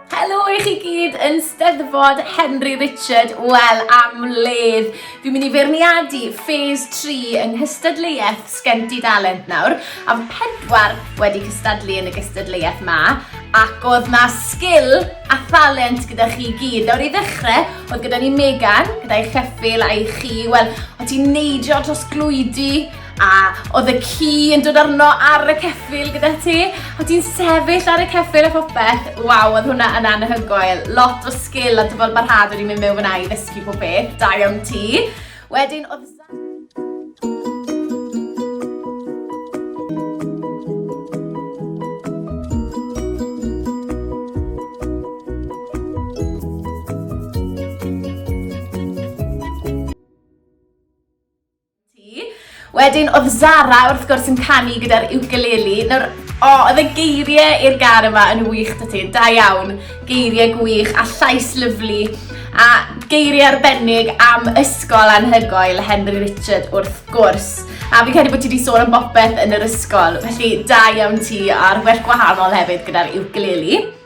Helo i chi gyd yn Steddfod Henry Richard, wel am ledd. Fi'n mynd i feirniadu ffes 3 yng nghystadleuaeth Sgenti Dalent nawr, a fy pedwar wedi cystadlu yn y gystadleuaeth ma, ac oedd na sgil a thalent gyda chi gyd. Nawr i ddechrau, oedd gyda ni Megan, gyda'i cheffil a'i chi, wel, o ti'n neidio trosglwydi A oedd y ci yn dod arno ar y ceffil gyda ti, a ti'n sefyll ar y ceffil a phopeth. Waw, oedd hwnna yn anhygoel. Lot o sgil a dyfod barhad wedi mynd mewn fyna i ddysgu pob beth. Da iawn ti. Wedyn oedd... ti. Wedyn oedd Zara wrth gwrs yn canu gyda'r ukulele. Nawr, o, oh, oedd y geiriau i'r gar yma yn wych da ti. Da iawn, geiriau gwych a llais lyflu. A geiriau arbennig am ysgol anhygoel Henry Richard wrth gwrs. A fi'n credu bod ti wedi sôn am bopeth yn yr ysgol. Felly, da iawn ti a'r well gwahanol hefyd gyda'r ukulele.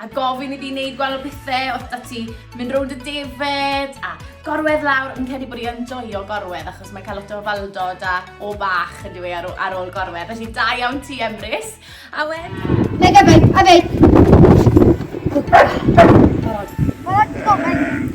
a gofyn iddi wneud gwael o pethau oedd da ti mynd rownd y defed a gorwedd lawr yn cedi bod i yn joio gorwedd achos mae'n cael lot o faldod a o bach yn dweud ar, ar ôl gorwedd felly da iawn ti Emrys a wedyn Neu gyfyd, a fe! Barod. Barod, gofyn.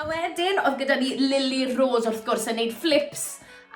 A wedyn oedd gyda ni Lily Rose wrth gwrs yn neud flips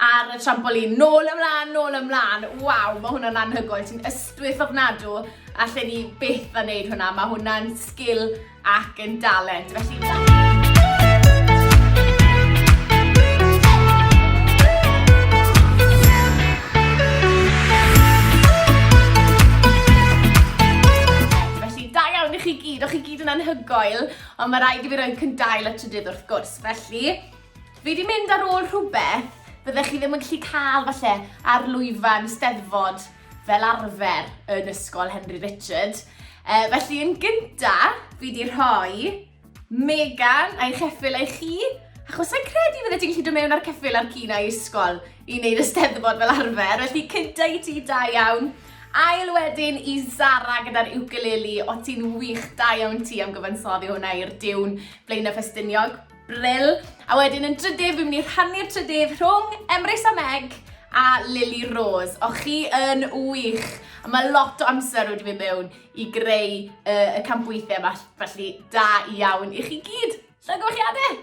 ar y trampolin. Nôl ymlaen, nôl ymlaen. Waw, mae hwnna'n anhygoel. Ti'n ystwyth ofnadw a lle ni byth yn neud hwnna. Mae hwnna'n sgil ac yn dalent. Felly... anhygoel. Ond mae rhaid i fi roi'n cyndail y trydydd wrth gwrs, felly fi di mynd ar ôl rhywbeth byddech chi ddim yn gallu cael falle ar lwyfan steddfod fel arfer yn ysgol Henry Richard. E, felly yn gynta, fi di rhoi Megan a'i cheffil ei chi, achos sa'n credu fydde ti'n gallu dod mewn ar ceffil ar cyn a'i ysgol i wneud y steddfod fel arfer, felly cynta i ti da iawn. Ail wedyn i Zara gyda'r ukulele. O ti'n wych, da iawn ti am gyfansoddi hwnna i'r diwn Blaenau Ffestiniog. Brill. A wedyn yn drydydd, fi'n mynd i rhannu'r trydydd rhwng Emrys a Meg a Lily Rose. O chi yn wych. A mae lot o amser wedi mynd mewn i greu uh, y campweithiau yma, felly da iawn i chi gyd. Llongyfarchiadau!